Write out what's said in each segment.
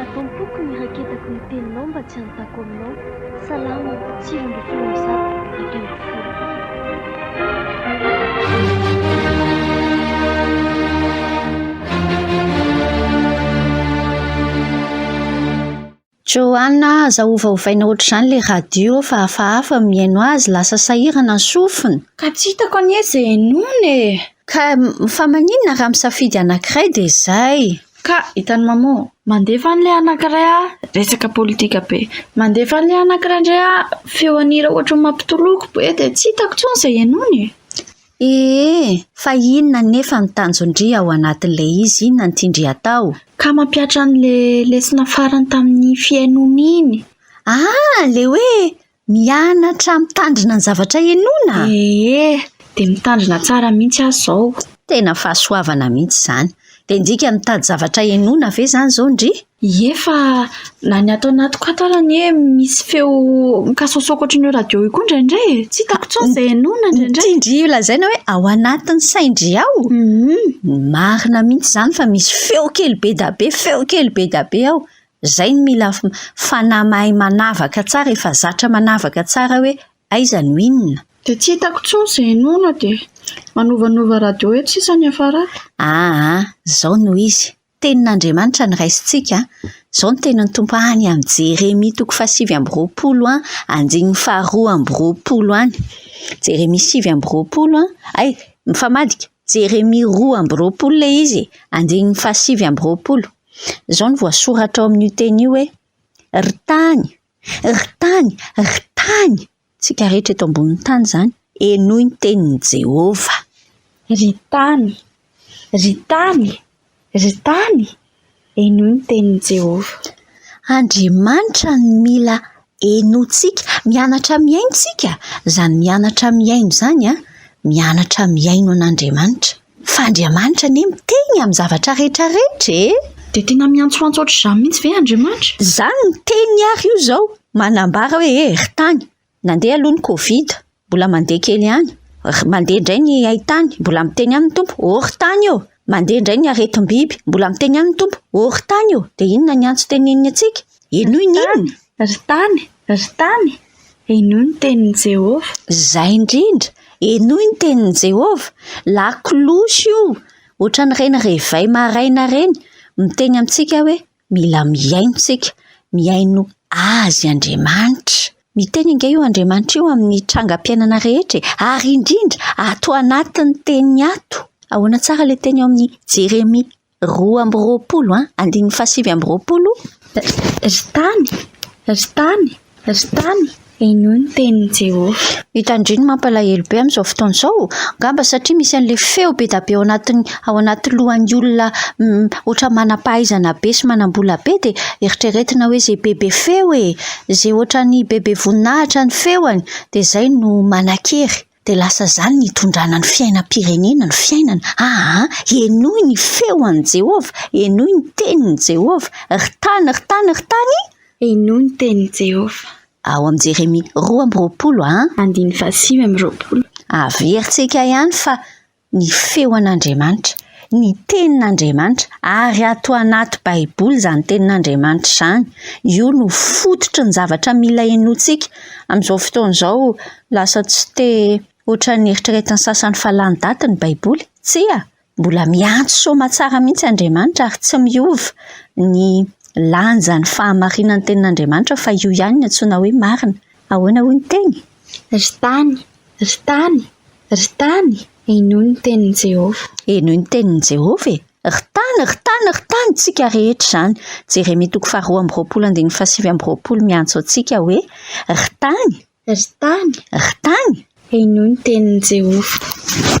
Ato am-poko ny raketako ny teninao mba tsy hanontako aminao, Salamo, sivy ambin'ny folo amby zato, dimy ambin'ny folo. Johanna, aza ovaovaina ohatr'izany ilay radio fa hafahafa mihaino azy, lasa sahirana ny sofina. Ka tsy hitako anie izay henoina e! Ka fa maninona raha misafidy anankiray dia izay. Ka hitan'i Mamo. Mandefa an'ilay anankiray aho resaka politika be. Mandefa an'ilay anankiray indray aho feon'ny hira ohatra ny mampitoloko be dia tsy hitako intsony izay henoina e. Ee, fa inona anefa ny tanjon-dry ao anatin'ilay izy, inona no tian-dry hatao? Ka mampihatra an'ilay lesona farany tamin'ny fihainoana iny. Ah, ilay hoe Mianatra mitandrina ny zavatra henoina? Ee, dia mitandrina tsara mihitsy aho izao. Tena fahasoavana mihitsy izany. Dia ndrika mitady zavatra henoina ve izany izao ndry? Ie fa na ny ato anatiko ato ary anie misy feo mikasaosaoka ohatran'ny eo radio io koa indraindray e. Tsy hitako intsony izay henoina indraindray. Ity ndry io lazaina hoe ao anatin'ny sain-dry ao. Marina mihitsy izany fa misy feo kely be dia be, feo kely be dia be ao. Zay no mila fanahy mahay manavaka tsara efa zatra manavaka tsara hoe aiza no inona. Dia tsy hitako tsony izay henoina dia manovanova radio eto sisa ny hiafarako. Aa zao no izy, tenin'Andriamanitra no raisintsika an! Zao no tenin'ny Tompo any amin'ny Jeremia toko fahasivy amby roapolo an, andininy faharoa amby roapolo any. Jeremia sivy amby roapolo an, hay mifamadika. Jeremia roa amby roapolo ilay izy e, andininy fahasivy amby roapolo. Izao no voasoratra ao amin'io teny io hoe, Ry tany, ry tany, ry tany! Isika rehetra eto ambonin'ny tany izany, henoy ny tenin'i Jehovah. Ry tany, ry tany, Ry tany, henoy ny tenin'i Jehovah. Andriamanitra no mila henointsika. Mianatra mihaino isika. Izany mianatra mihaino izany, mianatra mihaino an'Andriamanitra. Fa Andriamanitra anie miteny amin'ny zavatra rehetrarehetra e! Dia tena miantsoantso hoatr'izany mihitsy ve Andriamanitra? Izany no teniny àry io izao, manambara hoe, Ry tany, Nandeha aloha ny covid, mbola mandeha kely ihany, mandeha indray ny haitany, mbola miteny ihany ny Tompo, oh ry tany ô! mandeha indray ny aretim-biby, mbola miteny ihany ny Tompo, oh ry tany ô! dia inona ny antso teneniny antsika? Henoy ny inona? Ry tany, ry tany, henoy ny tenin'i Jehovah. Izay indrindra, henoy ny tenin'i Jehovah. Lakolosy io, ohatran'ireny réveil maraina ireny, miteny amintsika hoe, Mila mihaino isika, mihaino Azy Andriamanitra. Miteny ange io Andriamanitra io amin'ny trangam-piainana rehetra e! Ary indrindra ato anatin'ny teniny ato. Ahoana tsara ilay teny ao amin'ny Jeremia roa amby roapolo, andininy fahasivy amby roapolo? Ry tany, ry tany. Ry tany, inoy ny tenin'i Jehovah. Ry tandremo, mampalahelo be amin'izao fotoana izao. Angamba satria misy an'ilay feo be dia be ao anatin'ny ao anaty lohan'ny olona hoatran'ny manam-pahaizana be sy manam-bola be, dia eritreretina hoe izay bebe feo e! Izay hoatran'ny bebe voninahitra ny feony, dia izay no manan-kery. Dia lasa izany nitondrana ny fiainam-pirenena ny fiainana. Aa! Henoy ny feo an'i Jehovah, henoy ny tenin'i Jehovah, ry tany, ry tany, ry tany! Henoy ny tenin'i Jehovah. Ao amin'ny Jeremia roa amby roapolo an. Andininy fahasivy amby roapolo. Averintsika ihany fa. ny feon'Andriamanitra, ny tenin'Andriamanitra, ary ato anaty baiboly izany tenin'Andriamanitra izany, io no fototry ny zavatra mila henointsika, amin'izao fotoana izao lasa tsy te ohatran'ny eritreretin'ny sasany fa lany daty ny baiboly, tsia, mbola miantso soamatsara mihitsy Andriamanitra ary tsy miova ny lanjan'ny fahamarinan'ny tenin'Andriamanitra fa io ihany no antsoina hoe marina, ahoana hoy ny teny? Ry tany, Ry tany, ry tany, henoy ny tenin'i Jehovah. Henoy ny tenin'i Jehovah e! Ry tany, ry tany, ry tany, tsika rehetra izany. Jeremia toko faharoa amby roapolo andininy fahasivy amby roapolo miantso antsika hoe, Ry tany! Ry tany! Ry tany! Henoy ny tenin'i Jehovah.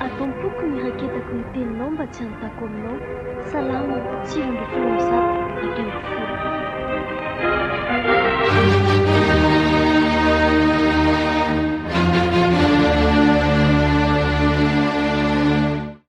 Ato am-poko ny raketako ny teninao mba tsy hantako aminao Salamo, sivy ambin'ny folo amby zato, dimy ambin'ny folo.